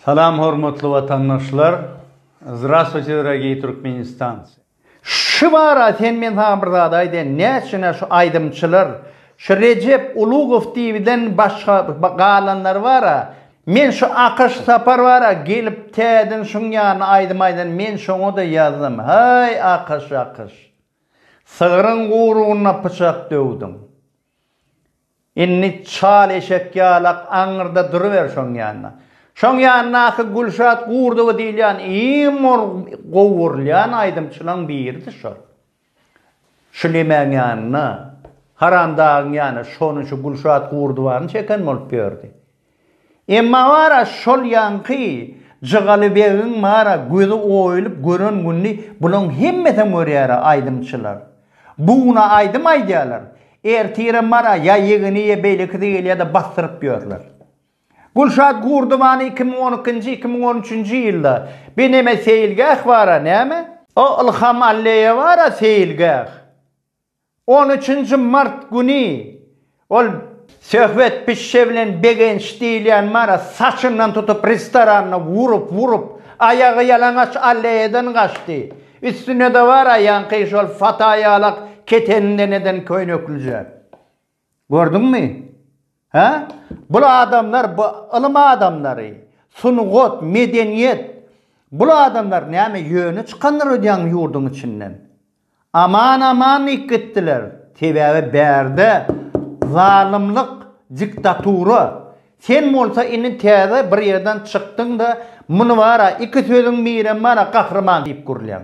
Salam hormatly watandaşlar! Zdrastwuyte drogiy Türkmenistancy! Şu bara sen men saňa bir zat aýdaýyn näçüne şu aýdymçylar şu Rejep Ulugow diýibiden başga galanlary bara men şu Akaş Sapar bara gelip täden şuň ýanyna aýdym aýdan men şoňada ýazdym haý Akaş Akaş! Sygryň guruguna pyçak döwdüň! Indi çal eşek ýalak aňyrda duruber şoň ýanynda. Şoň ýanyndaky Gülşat Gurdowa diýilýän iň mol gowy urulýan aýdymçylaň biridi şol. Şu lemäň ýanyna, Haramdagyň ýanyna şony şu Gülşat Gurdowany çeken bolup ýördi. Emma bar-a şol ýaňky Jygalybegiň bar-a gözi oýulyp gören gününi bulaň hemmesem görýär-ä aýdymçylar. Bu guna aýdym aýdýarlar, ertirem bar-a ýa ýegeni ýa beýlekisi gelýär-de basdyryp ýörler. Gülşat Gurdubany iki müň on ikinji, iki müň on üçünji ýylda bi neme seýilgäh bar-a näme? O Ylham Alleýe bar-a seýilgäh. On üçünji mart güni ol Söhbet pişşe bilen Begenç diýilýän mara saçyndan tutup restoranda urup-urup, aýagy ýalaňaç alleýadan gaçdy. Üstünde-de bar aýaňky şol fataýalak keteninden eden köýneklije. Gördüňmi? Hä? Bul adamlar bu ylym adamlary, sungat, medeniýet, bul adamlar näme ýöne çykandyr öýdýäňmi ýurduň içinden? Aman aman diýip gitdiler. Sebäbi bärde zalymlyk, diktatura. Sen bolsa indi täze bir ýerden çykdyň-da, muny bar-a, iki sözüň birem bar-a gahryman diýip gürlýäň.